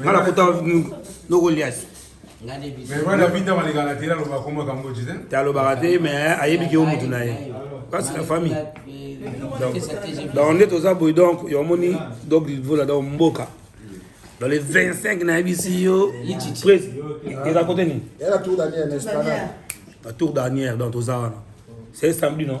nga nakuta noko liasi te alobaka te mais ayebiki yo motu na ye kasi na famille donc nde toza boye donc yo omoni donc livola donc mboka dans les 25 nayebisi yo eza kote nini la tour dernière donc toza wana c'est samedi non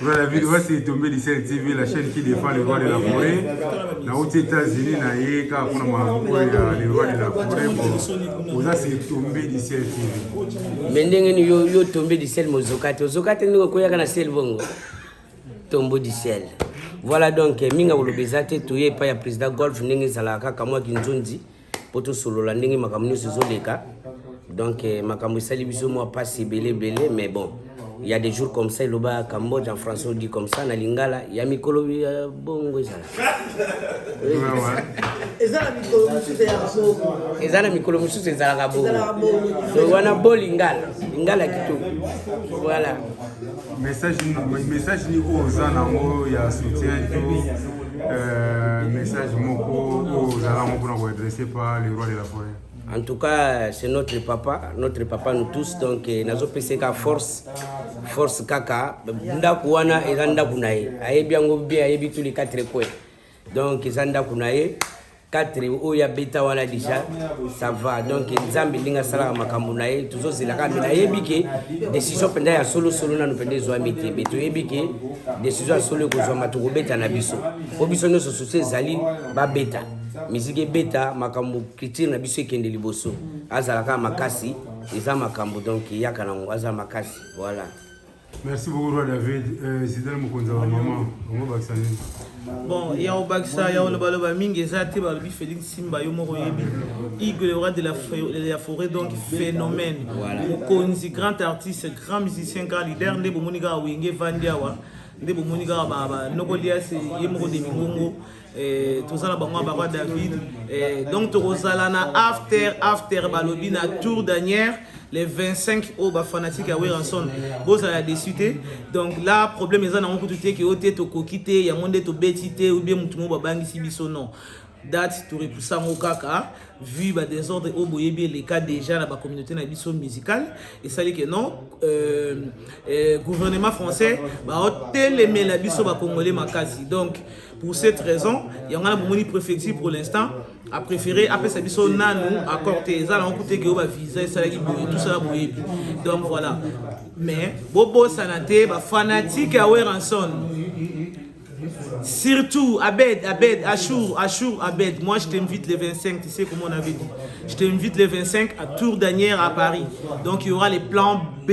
Voilà, video basi etombe Licel TV, la chaîne qui défend le roi de la forêt. Na uti États-Unis na ye kaka kuna makambo ya le roi de la forêt. Bon, oza se etombe Licel TV. Mais ndenge ni yo yo tombe Licel mozoka te, ozoka te ndenge okoyaka na sel bongo. Tombo Licel. Voilà donc minga koloba eza te toye epai ya président golf ndenge ezalaka kaka mwa kinzonzi mpo tosolola ndenge makambo nyonso ezoleka donc eh, makambo esali biso mwa mpasi ebele ebele mais bon il y a des jours comme ça eloba cambodge en français odi comme ça na lingala ya mikolo ya euh, bongo ezala eza na mikolo mosusu ezalaka bongo wana bo lingala lingala kitoko voilà message nini message nini oyo oza nango ya soutien to euh, message moko oyo ozala yango mpona koadresse pa le roi de la forêt en tout cas c'est notre papa notre papa nous tous donc eh, nazopesa ka force force kaka ndako wana eza ndako na ye ayebi yango bien ayebi tous les quatre coins donc eza ndako na ye 4 oyo abeta wana deja ça va donc nzambe ndenge asalaka makambo na ye tozozelaka me nayebi ke décision mpenza ya solosolo nano mpenza ezwami te me toyebi ke décision ya solo ekozwama tokobeta na biso mpo biso nyonso susu ezali babeta miziki ebeta makambo culture na biso ekende liboso azalaka makasi eza makambo donc eyaka nango aza makasi voilà Merci beaucoup Roi David. Euh, Zidane Mokonza wa maman, bango bakisa nini? Bon, ya obakisa ya oloba loba mingi eza te balobi Félix Simba yo moko yebi. Igwe le roi de la, de la forêt donc phénomène. Voilà. Mokonzi grand artiste, grand musicien, grand leader nde bomoni kaka wenge vandi awa. Nde bomoni kaka ba ba nokolias ye moko de mingongo. Eh, toza na bango ya baroi david eh, donc tokozala na after after balobi na tour danière les 25 oyo bafanatique ya weranson bozala desu te donc la problème eza nango kutu te ke oyo te tokoki te yango nde tobeti te ou bien motu moko babangisi biso non date torepusa yango kaka vu badésordre oyo boyebi eleka déjà na bacommunauté na biso musicale esali ke non euh, euh, gouvernement français baotelemela biso bacongolais makasi donc Pour cette raison, yango wana bomoni préfecture pour l'instant a préféré apesa biso nanu accord te eza nango kutu ekeyo bavisa esalaki boye tosala boyebi donc voilà mais bobosana te bafanatike ya weranson Surtout, Abed, Abed, Achour, Achour, Abed. Moi, je t'invite les 25, tu sais comment on avait dit. Je t'invite les 25 à Tour d'Anière à Paris. Donc, il y aura les plans B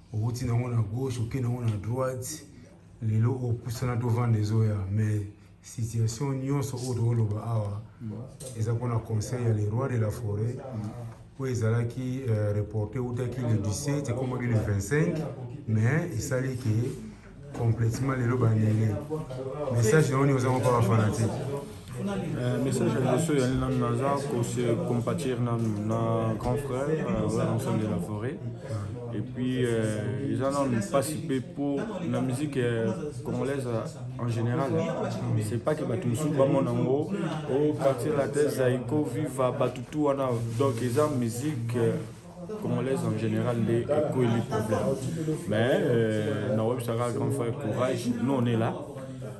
owuti nango na gauche okei nango na droite lelo opusana tovanda ezoya mais situation nyonso oyo tokoloba awa eza mpona conseil ya le roi de la forêt oyo ezalaki euh, reporte eutaki le 17 ekomaki le 25 mais esali ke Complètement lelo bandele. Message na oni oza ko pas fanatique. Euh, message ya liboso ya nani naza kose compatir nanu na grand frère euh, oyo ensemble de la forêt et puis euh, eza nanu mpasi mpe mpo na musique congolaise en général c'est pas que bato mosusu bamona yango o quartier latin zaiko viva bato tu wana donc eza musique congolaise en général nde ekweli problème mais euh, nawebisaka grand frère courage nous on est là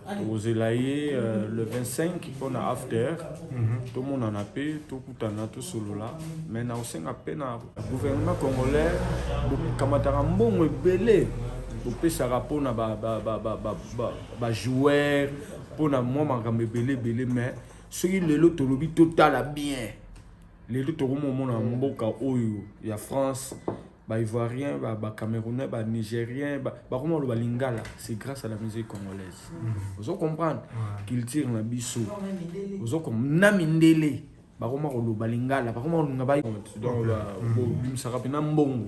tokozela ye euh, le 25 mpona after mhm. tomonana mpe tokutana tosolola mais nakosenga mpe na gouvernement congolais bokamataka mbongo ebele bopesaka mpona bajoueur mpona mwa makambo ebele ebele mais soki lelo tolobi totala bien Lelo tokomomona mboka oyo ya France ba ivoirien ba, ba camerounais ba nigérien bakoma loba lingala c'est grâce à la musique congolaise mm. ozo comprendre culture na biso ozo na mindele bakoma koloba lingala bakoma kolunga ba donc bobimisaka mpena mbongo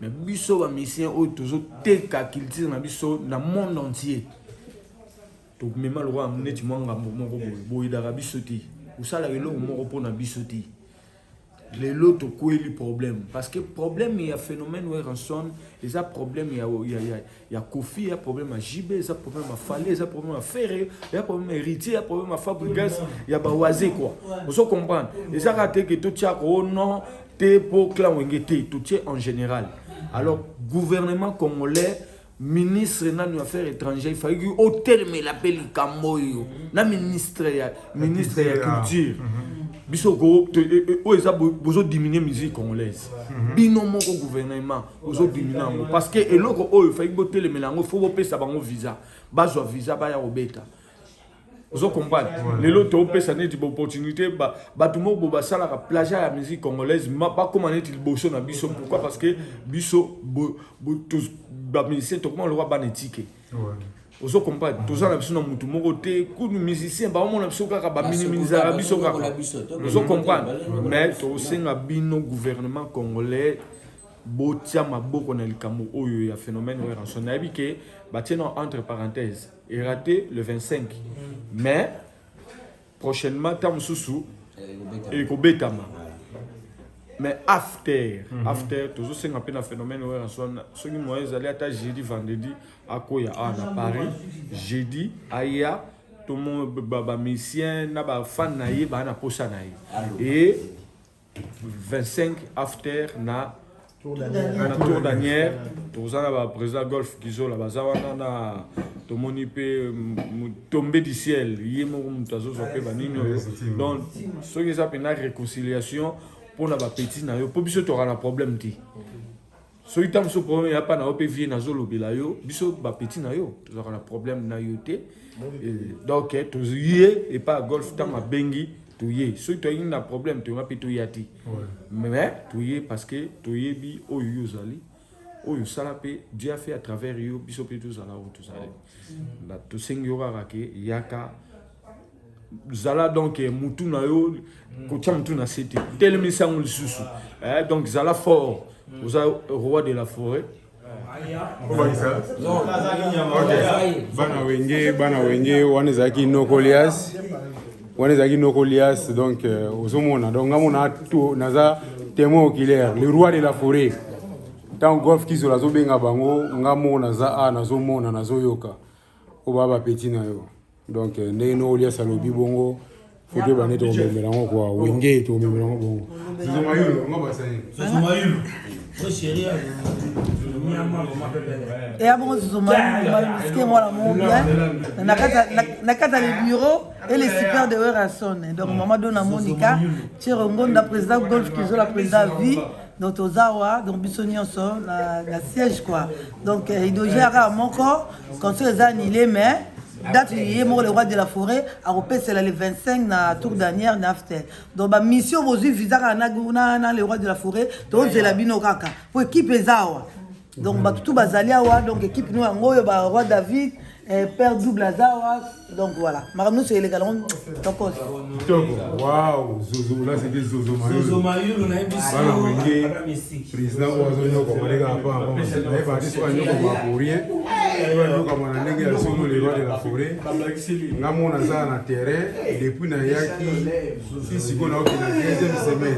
me biso bamisien oyo tozoteka culture na biso na monde entier tomema lokola neti mwa ngambo moko boye boyidaka biso te osalaka eloko moko mpo na biso te lelo tokweli problème parce que problème ya phénomène werenson eza problème ya, ya, ya, ya kofi ya problème ya jb eza problème ya fale eza problème ya ferre eza problème ya héritier eza problème ya fabrigas ya bawaze quoi ozo comprendre eza kaka te ke totiaka o oh non te mpo clan wenge te totie en général alors gouvernement congolais ministre nanu ya affaire étrangère ifalaki otelemela mpe likambo oyo na ministre ya ministre ya culture biso ko e, e, oyo eza bozodiminue musique congolaise mhm. bino moko gouvernement bozodiminue yango parce que eloko oyo efalaki botelemela yango fo bopesa bango visa bazwa visa baya kobeta ozo comprendre lelo topesa neti baopportunité bato moko bo basalaka plagiat ya musique congolaise bakóma neti liboso na biso pourquoi parce que biso bamusicien tokóma lokwa bana etike ozo comprendre toza na biso na motu moko te kudu musicien baomona biso kaka baminiminizaka biso kaka ozo comprendre mais tosenga bino gouvernement congolais botia maboko na likambo oyo ya phénomène oyo ranson nayebi ke batie na entre parenthèse e rate le 25 mais prochainement ntango mosusu ekobetama mais after mm -hmm. after tozosenga mpe na phénomène oyo yanso wana soki moyen ezali ata jeudi vendredi akoya awa na paris jeudi aya tomo bamisien na bafane na ye baa na mposa na ye e 25 after na na tour danière toza na ba président golf kizola baza wana na tomoni mpe tombe du ciel ye moko moto azozwa mpe banini oyo donc soki eza mpe na réconciliation mpo na bapetit na yo mpo biso toka na problème te soki ntango mosusu problème ya pa na yo mpe vie nazolobela yo biso bapeti na yo tozalaka na problème na yo te donc eh, toye epa golf ntango abengi toye soki toyaki na problème toyeba mpe toya te mais toye parce que toyebi oyo yo ozali oyo osala mpe dieu afe à travers yo biso mpe tozala oyo tozali tosengi yo kaka ke yaka zala donc eh, mutu na yo mm. kotya mutu na se te telemisi yango lisusu eh, donc zala fort mm. oza roi de la forêt bana wenge bana wenge wana ezalaki nokolias wana ezalaki nokolias donc eh, ozomona donc nga mona naza témoin oculaire le roi de la forêt ntango golf kizola azobenga bango nga moko naza a nazomona nazoyoka oba ba petit na yo donc euh, ndenge no olias alobi bongo foto ebandi tokomemela yango kua wenge tokomemela yango bongo eya bongo zozomaske mwana mo bien na kati ya le bureau et les super de werrason donc mama dona monica cero ngonda président golf kizola président vie donc toza awa donc biso nyonso na, na siège quoi donc eh, idoge aka moko concert eza annulé mais date ye moko le roi de la forêt akopesela le 25 na tour dernière na aftel donc bamission bozwi visa kaka na, na, na le roi de la forêt tozela bino kaka po ekipe eza awa donc bato tu bazali awa donc ekipe no yango oyo ba roi david eh, père double aza awa donc voilà makambo nyonso eleka nango tokos kitoko wao zozo la seke zozo mayolo mayolo nayebi bana wenge président oyo azonyoko maleka apa naye baartiste oyo anyoko ma pour rien oyo anyoko mana ndenge ya solo le roi de la forêt nga mona azala na terrain depuis nayaki si sikoyo naokenda deuxième semaine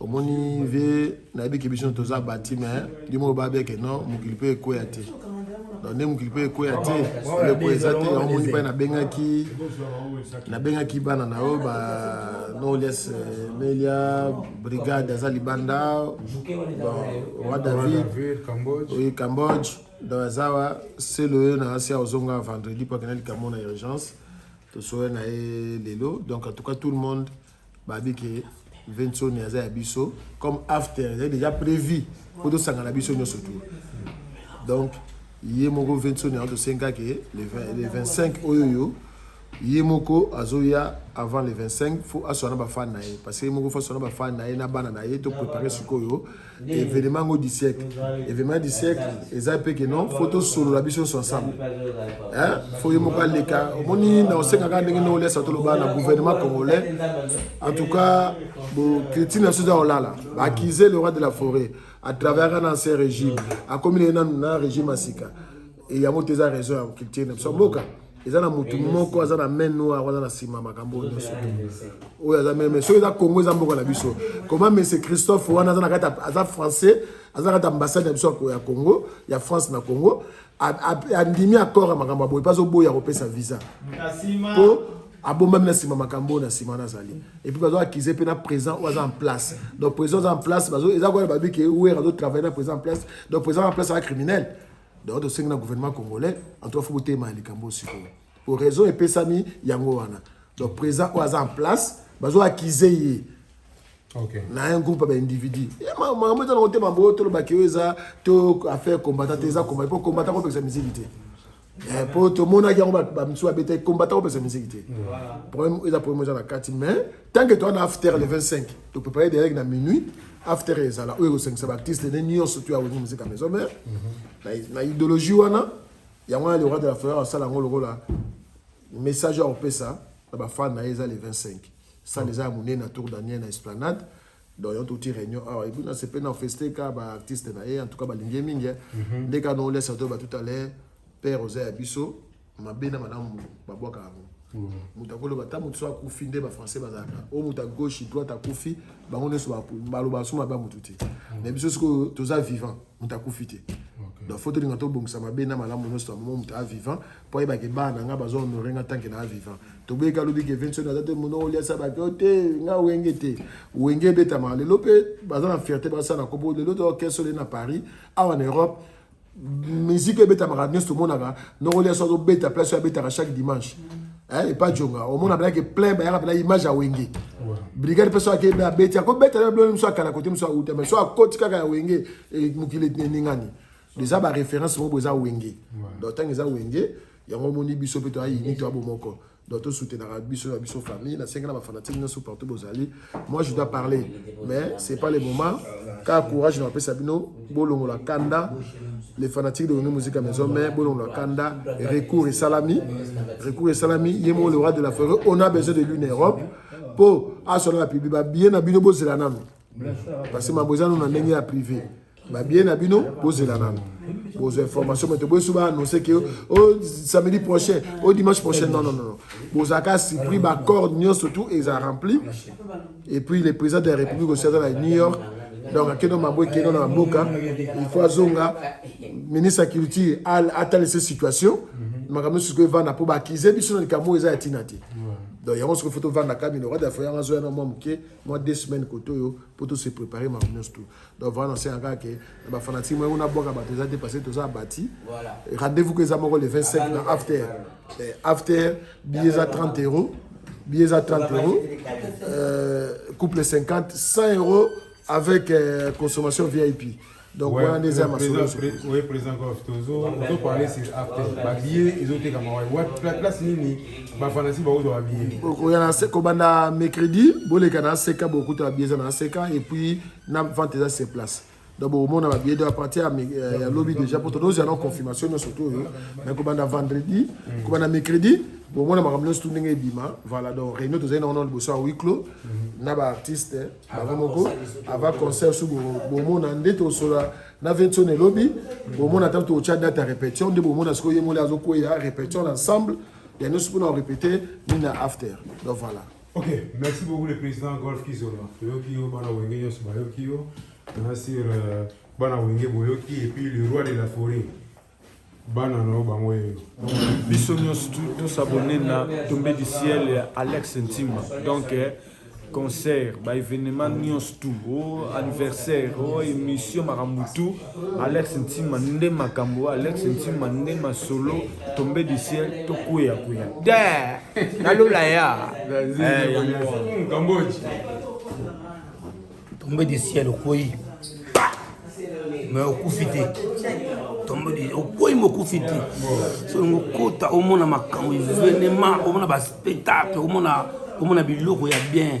omoni ve nayebi ke biso toza bati me ndimo oyo babia ke non mokili mpe ekweya te donc nde mokili mpe ekweya te eleko eza te yango moni mpai nabengaki nabengaki bana na yo ba nolias eh, melia brigade aza libanda roi david oyi cambodge donc aza wa selo oyo na asi aozonga vendredi mpo akenda likambo na urgence tosoya na ye lelo donc en tout cas tout le monde babi ke Vincent aza ya biso comme after ezali déjà prévu mpo tosangana biso nyonso tour donc ye moko Vincent yango tosenga ke le 25 oyo oyo ye moko azoya avant le 25 fo aswana bafane na ye parce que ye moko fo aswana bafane na ye na bana na ye topréparer sikoyo evenema yango du siècle evenema du siècle eza mpe ke non fo tosolola biso nyonso ensemble fo ye moko aleka omoni na osengaka ndenge nde olesa toloba na gouvernement congolais en tout cas bocriti na biso eza kolala baaccuse le roi de la forêt à travers un ancien régime akomi leye nanu na régime ya sika Et yango te eza raison ya culture na biso mboka. eza na motu moko aza na main noire wana na nsima makambo oyo nyonso oyo aza meme soki eza congo eza mboka na biso koma mese christophe wana aza na kati aza français aza na kati ambassade na biso ya congo ya france na congo andimi accord ya makambo aboye mpe azoboya kopesa visa mpo abombami na nsima makambo oyo na nsima wana azali epuis bazo akize mpe na présent oyo aza en place donc présent aza en place eza koyana babike wer azotravaille na présent en place donc présent en place aza criminel donc tosengi na gouvernement congolais en tout cas fo botelema na likambo sikoyo po raison epesami yango wana donc président oyo aza en place bazo akize ye Okay. na un groupe ya baindividu makambo eza na motema boyo tolobaki oyo eza to affaire combattant te eza combattant po combattant kopekisa miziki te mpo eh, tomonaki yango bamisusu babetaki combattant kopekisa miziki te problème eza problème eza na kati mais tant que toa na after le 25 To préparer derrière na minuit after ezala oyo ekosangisa baartiste ne nyonso to ya wengi muzika maison mère mhm. na idéologie wana yango wana le roi de la forêt asala yango lokola message ya kopesa na bafane na ye eza le 25 sale eza ya monene na tour daniel na esplanade donc yo touti réunion awa ebina sepe na feste ka baartiste na ye en tout cas balingi ye mingi mhm. nde ka noolesa to ba tout à l'heure père oza ya biso mabe na malamu babwaka yango moto akoloba ata moto so akufi nde bafrançais bazalaka oyo moto ya gauche droite akufi bango nyonso baloba so mabe ya motu te mais biso sikoyo toza vivant moto akufi te donc fo tolinga tobongisa mabe na malamu nyonso ya momo moto a vivant mpo ayebaka ebaa na ngai bazo honore nga tanke na a vivant toboyeka alobi ke vinson aza te mono oliasa bake o te nga wenge te wenge ebetama lelo mpe baza na fierté basala kopo lelo to kesole na paris awa na europe musique ebetamaka nyonso tomonaka nokoli aso azobeta place oyo abetaka chaque dimanche eh, epa jonga omona abenaki plein bayaka mpena image ya wenge brigade mpe so akei abeti akobeta na biloko mosusu akala kote mosusu auta mai so akoti kaka ya wenge eh, mokili eningani eza baréférence moko eza wenge donc ntango eza wenge yango omoni biso mpe toyayini toya bomoko donc to soutenaka biso na biso famille nasengi na bafanatike nyonso partout bozali moi je dois parler mais c'est pas le moment kaka courage napesa bino bolongola kanda les fanatiques de Reno Musica Maison mais bolongola kanda recours esalami recours esalami ye moko le roi de la forêt on a besoin de lui na europe mpo asola na publi babiye na bino bozela nano parce que mambo eza no na ndenge ya privé babie na bino bozela nano bozwa information moto boyesu baannonce ke o oh, samedi prochain o oh, dimanche prochain non non non bozalaka surpris baccord nyonso tout eza rempli et puis le président de la république osi aza na new york donc akeno mambo ekeno na mboka il faut azonga ministre ya culture atalisa situation makambo nyonso sikoyo evanda mpo baakize biso na likambo oyo eza ya ntina te donc yango soki fo tovanda kamino roi dafo yango azoya na mwa moke mwa deux semaines kote oyo mpo tose prépare makambo nyonso tout donc vraiment nasenga kaka ke na bafanatique moyeko nabwaka bato eza te parce que toza abati rendez-vous ko eza moko le 25 ah, na after eh, after billet eza 30 euros billet eza 30 euros euh, couple 50 100 euros avec euh, consommation vip donc wana nde eza masolo oye président gof tozoparle sur after babillet ezotekama place nini bafanasi bakozwa babillet okoya na kobanda mercredi boleka na aseka bokuta babillet eza na aseka et puis na vente eza sur place donc bokomona babiye donc apartir ya lobi déjà mpo todozela na confirmation nyonso to oyo mais kobanda vendredi mm. kobanda mercredi bomona makambo nyonso tu ndenge ebima voilà donc réunion tozali nango na liboso ya huis clos mm-hmm. na baartiste eh, bango moko avant concert su bomona nde tosola na 21 elobi mm. bomona ntango tokotya date ya répétition nde bomona sikoyo ye moli azokweya répétition na ensemble ya nyonso mpona korepete nini na after donc voilà Ok, merci beaucoup le président Golf Kizola. Toyoki yo bana wenge nyonso bayoki yo. Na sur euh, bana wenge boyoki et puis le roi de la forêt. Bana no bango yo. Biso nyonso to s'abonner na Tombé du ciel ya Alex Ntima. Donc eh, concert, ba événement nyonso tout, oh anniversaire, oh émission makambo tout. Alex Ntima nde makambo Alex Ntima nde masolo tombe du ciel to kuya kuya da na lola ya Cambodge tombe du ciel okoyi mais okufi te tombe du okoyi mokufi te so ngo kota omona makambo evenement omona ba spectacle omona omona biloko ya bien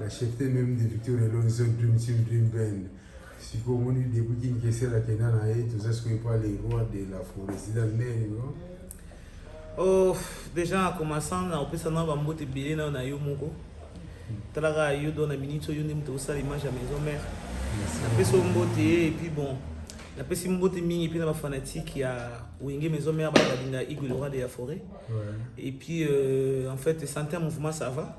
La chefte meme de Victor Elonzo Dream Team Dream Band sikoyo omoni depuis kinkesela kenda na ye toza sikoyo epa le roi de la forêt sida nene no oh, déjà commençant na opesa na bambote ebele nayo na yo moko talaka yo do na minute oyo nde moto osala image ya maison mère napesi oyo mbote ye epuis bon napesi mbote mingi mpe na bafanatike ya wenge maison mère balinga igolora de ya forêt epuis euh, en fait sante ya mouvement ça va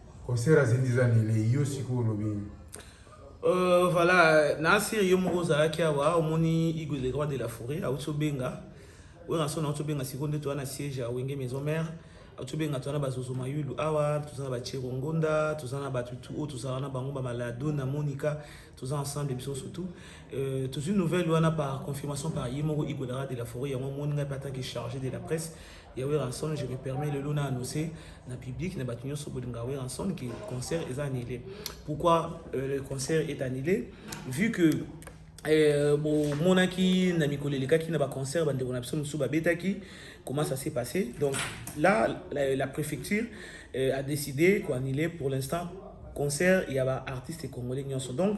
concert ya zindi eza nele yo sikoyo olobi nini Euh, voilà, na siri yo moko ozalaki awa omoni Igo le roi de la forêt auti obenga oyo na sona auti obenga sikoyo nde toza na siège ya wenge maison mère auti obenga toza na bazozo mayulu awa toza na bachero ngonda toza na bato tu oyo tozala na bango bamalado na monica toza ensemble biso surtout euh, tozwi nouvelle wana par confirmation par ye moko Igo le roi de la forêt yango omoni ngai mpe atanke chargé de la presse ya Werrason je me permets lelo na annoncer na public na bato nyonso bolinga Werrason que concert est annulé pourquoi euh, le concert est annulé vu que euh, bomonaki na mikolo elekaki na baconcert bandeko na biso mosusu babetaki comment ça s'est passé donc là la, la préfecture euh, a décidé koannule pour l'instant concert ya baartiste congolais nyonso donc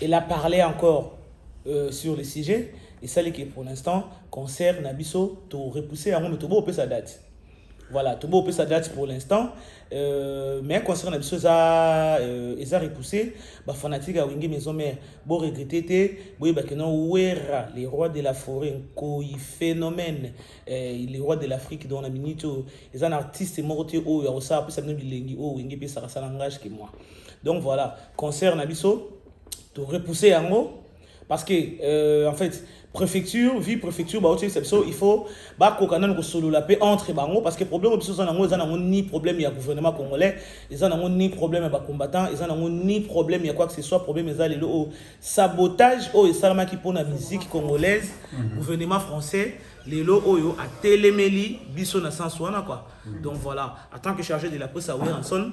Elle a parlé encore euh, sur le sujet et ça que pour l'instant concert na biso to repousser yango mais to bo sa date. Voilà, to bo sa date pour l'instant. Euh, mais concert na biso eza euh, eza repoussé, ba fanatique ya Wenge Maison Mère, bo regretter te, boye ba kenon Wera, les rois de la forêt, ko y phénomène, euh, les rois de l'Afrique dans la minute, eza un artiste morote oyo ya osala pesa bino bilengi oyo Wenge pesa sala langage que moi. Donc voilà, concert na biso to repousser yango parce que euh, en fait préfecture vie préfecture ba otie biso il faut ba koka nanu ko solola pe entre bango parce que problème biso za nango eza nango ni problème ya gouvernement congolais eza nango ni problème ya ba combattants eza nango ni problème ya quoi que ce soit problème eza lelo o sabotage oyo esalamaki mpona musique congolaise mhm. gouvernement français lelo oyo atelemeli biso na sens wana quoi mhm. donc voilà en tant que chargé de la presse à Wilson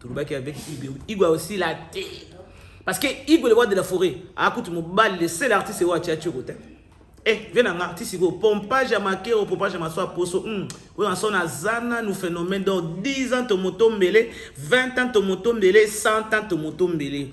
tolobaki avec Igwe Igwe osila te parce que Igwe le roi de la forêt akuti mobali le seul artiste oyo atia tshoko te eh vie nanga artiste ko pompage ya makero pompage ya maswa poso hmm. oyo na sona aza nanu phénomène donc 10 ans tomoto mbele 20 ans tomoto mbele 100 ans tomoto mbele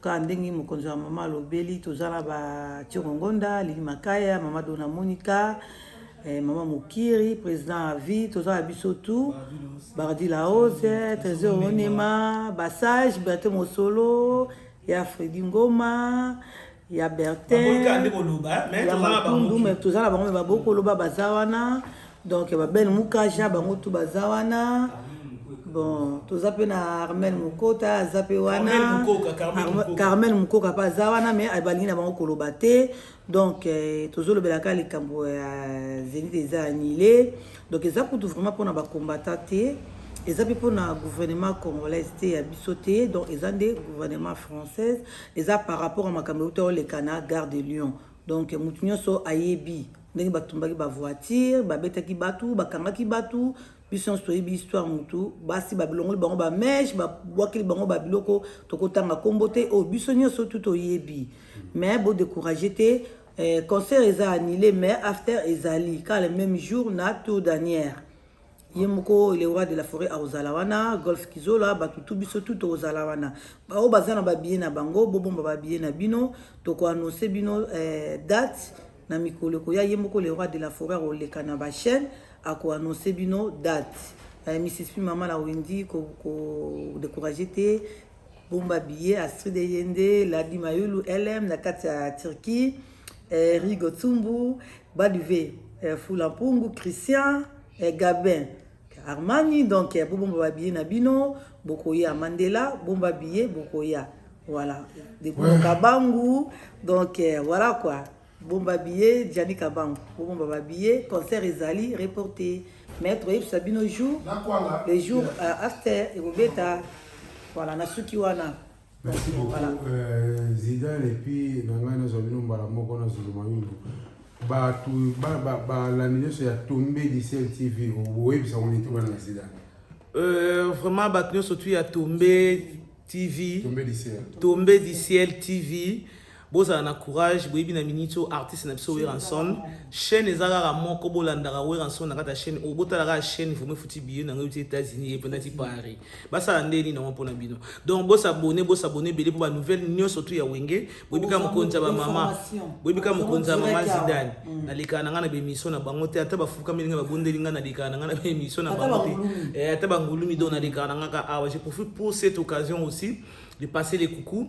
Kaka ndenge mokonzi wa mama alobeli, toza na ba Tiongo Ngonda, Lili Makaya, mama Dona Monica, eh, mama Mokiri, president à vie, toza na biso tout, Bardi la Hose, Trésor Onema, Basage, Berthe Mosolo, ya Freddy Ngoma, ya Bertin, ya Makundu, mais toza na bango, mais babokoloba baza wana, donc ya babel mukaja bango tu baza wana bon toza mpe na armel mokota aza mpe wana carmel mokoka mpe aza wana mais balingi na bango koloba te donc eh, tozolobelaka likambo ya zenit eza anile donc eza kutu vraiment mpona bakombata te eza mpe mpona gouvernement congolaise te ya biso te donc eza nde gouvernement française eza par rapport ya makambo euta oleka na gare de lyon donc motu nyonso ayebi ndenge batumbaki bavoitire babetaki batu bakangaki batu biso nyonso toyebi histoire motu basi babilongoli bango bameshe babwakeli bango babiloko tokotanga nkombo te oyo oh, biso nyonso tu toyebi mais bodecourage te eh, concert eza annule mais after ezali kaka le même jour na tour danière ye moko le roi de la forêt akozala wana golf kizola bato tu biso tu tokozala wana baoyo baza na babiye na bango bobomba babiye na bino tokoannonce bino eh, date na mikolo ekoya ye moko le roi de la forêt akoleka na bachaîne akoannonce bino date eh, mrs pi mama na wendi kodecourage ko, ko, te Bomba billet Astrid Eyende, Ladi Mayulu, LM na kati ya Turquie, eh, Rigo Tsumbu, Baduve, eh, Fula Mpungu, Christian, eh, Gabin, Armani donc eh, bobomba ba billet na bino bokoya Mandela bomba billet bokoya voilà de ouais. Kabangu donc eh, voilà quoi Bomba billet Gianni Kabangu. Bomba ba billets, concert ezali reporté. Mais toyebisa bino jour, le jour euh, after ekobeta. Voilà, nasuki wana. Merci beaucoup voilà. euh, Zidane et puis na ngai nazwa bino mbala moko na Zulu Mayulu. Bato balandi nyonso ya tombe disel TV oyebisa ngo nini tobana na Zidane. Euh, vraiment bato nyonso tu ya tombe TV. Tombe du ciel. Tombe du ciel TV. Bozala na courage boyebi na minute oyo artiste na biso Werrason chaîne eza kaka moko bolandaka Werrason na kati ya chaîne oyo botala kaka chaîne vraiment efuti billet na ngai euti États-Unis ependaki Paris basala nde nini yango mpona bino donc bosabone bosabone ebele mpo ba nouvelle nyonso tu ya wenge boyebi kaka mokonzi ya bamama boyebi kaka mokonzi ya mama zidane mm. nalekaka na ngai na bemission na bango te ata bafukameli ngai babondeli ngai nalekaka na ngai na bemission na bango te eh, ata bangulumi donc nalekaka na ngai kaka awa je profite pour cette occasion aussi de passer les coucou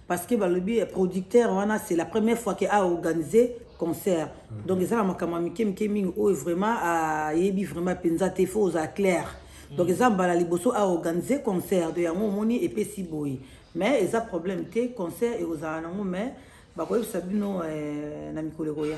parce que balobi eh, producteur wana c'est la première fois que a organisé concert mhm. donc eza na makambo ya mike mike mingi oyo vraiment ayebi vraiment mpenza te fo ozala claire mhm. donc eza mbala liboso a organise concert de yango omoni epesi boye mais eza problème te concert ekozala nango mais bakoyebisa bino eh, na mikolo ekoya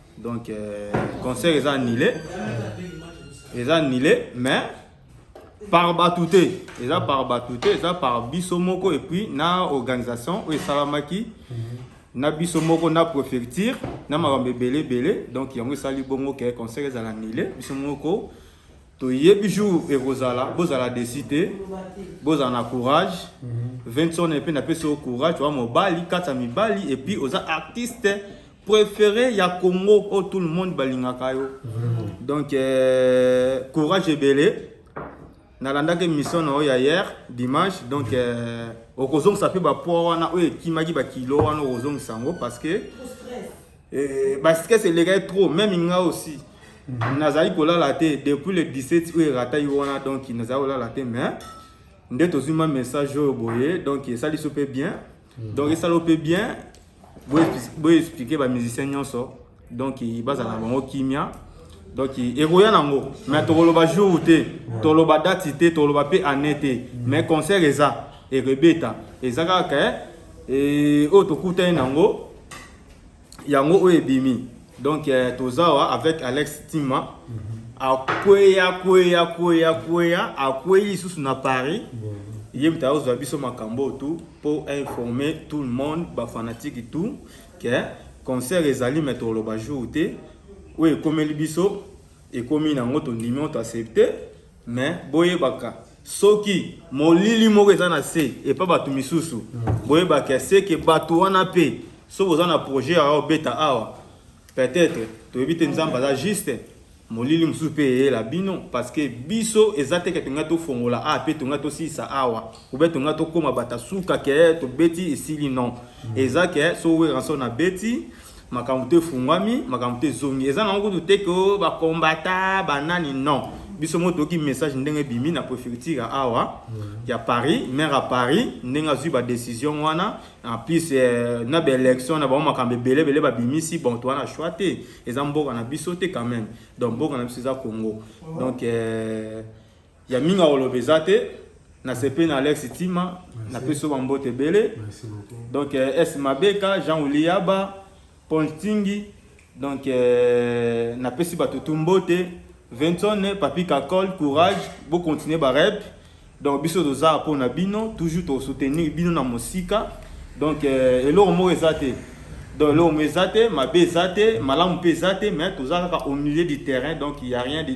Donc euh, concert eza annulé. Eza annulé mais par batouté. Eza par batouté, eza par biso moko et puis na organisation oyo esalamaki na biso moko na préfecture na makambo ebele ebele donc yango esali bongo ke concert ezala annulé biso moko toyebi jour ekozala bozala desi te bozala na courage vinson epe napesi yo courage oa mobali kati ya mibali epuis oza artiste préféré ya congo oyo oh, tout le monde balingaka yo donc euh, courage ebele nalandaki émission na oyo ya hier dimanche donc euh, okozongisa mpe bapoa wana oyo ekimaki bakilo wana okozongisa yango parce que Eh, ba stress elekaki trop meme nga aussi mhm. nazali kolala te depuis le 17 oyo erataki wana donc nazali kolala te mais nde tozwi ma message oyo boye donc esali so mpe bien mhm. donc esali mpe bien boye explike bamusicien nyonso donc bazala na bango kimia donc ekoya nango mais tokoloba jour te toloba date te toloba mpe année te mhm. mais concert eza ekobeta eza kaka eh, oyo tokutani nango yango oyo ebimi donc eh, tozawa avec alex tima mm -hmm. akweya kweya kweya kweya akwei lisusu na paris mm -hmm. ye moto akozwa biso makambo oyo tout mpo informer tout le monde bafanatike tout ke concert ezali me toloba jour te oyo ekomeli biso ekomi na ngo tondimi on t'accepte mais boyebaka soki molili moko eza na se epa bato misusu mm. boyebaka seke bato wana mpe soki oza na projet ya obeta awa peut-être toyebi te nzambe aza juste molili mosusu mpe eyela bino parceke biso eza teke tongai tofongola a mpe tongai tosilisa awa obe tongai tokóma bata suka ke tobeti esili non mm. eza ke soki weranson abeti makambo to efungwami makambo to ezongi eza nango kutu te ke oh, bakombata banani non biso moko toyoki message ndenge ebimi na préfecture awa ya paris maire ya paris ndenge azwi badécision wana en plus eh, na baélection na bango makambo ebele ebele babimisi bon toa na choix te eza mboka na biso te quand même donc mboka na biso eza congo donc eh, ya mingi akoloba eza te nasepeli na alex tima napesi yo bambote ebele donc eh, s mabeka jean uliyaba paul ntingi donc eh, napesi bato tu mbote vinson papi kakol courage bocontinue barep donc biso toza mpo na bino toujours tosoutenir bino na mosika donc eh, eloko moko eza te donc eloko moko eza te mabe eza te malamu mpe eza te mais toza kaka au milieu du terrain donc il y a rien de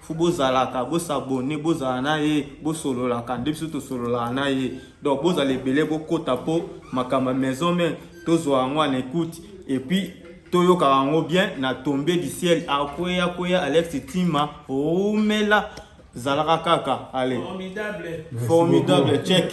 fo bozalaka bosabone bozala na ye bosololaka nde biso tosololaka na ye donc bozala ebele bokota mpo makambo ya maison mare tozwa yango en écoute epuis toyokaka yango bien na tombe du ciel akweya kweya alex tima rumela zalaka kaka ale formidable check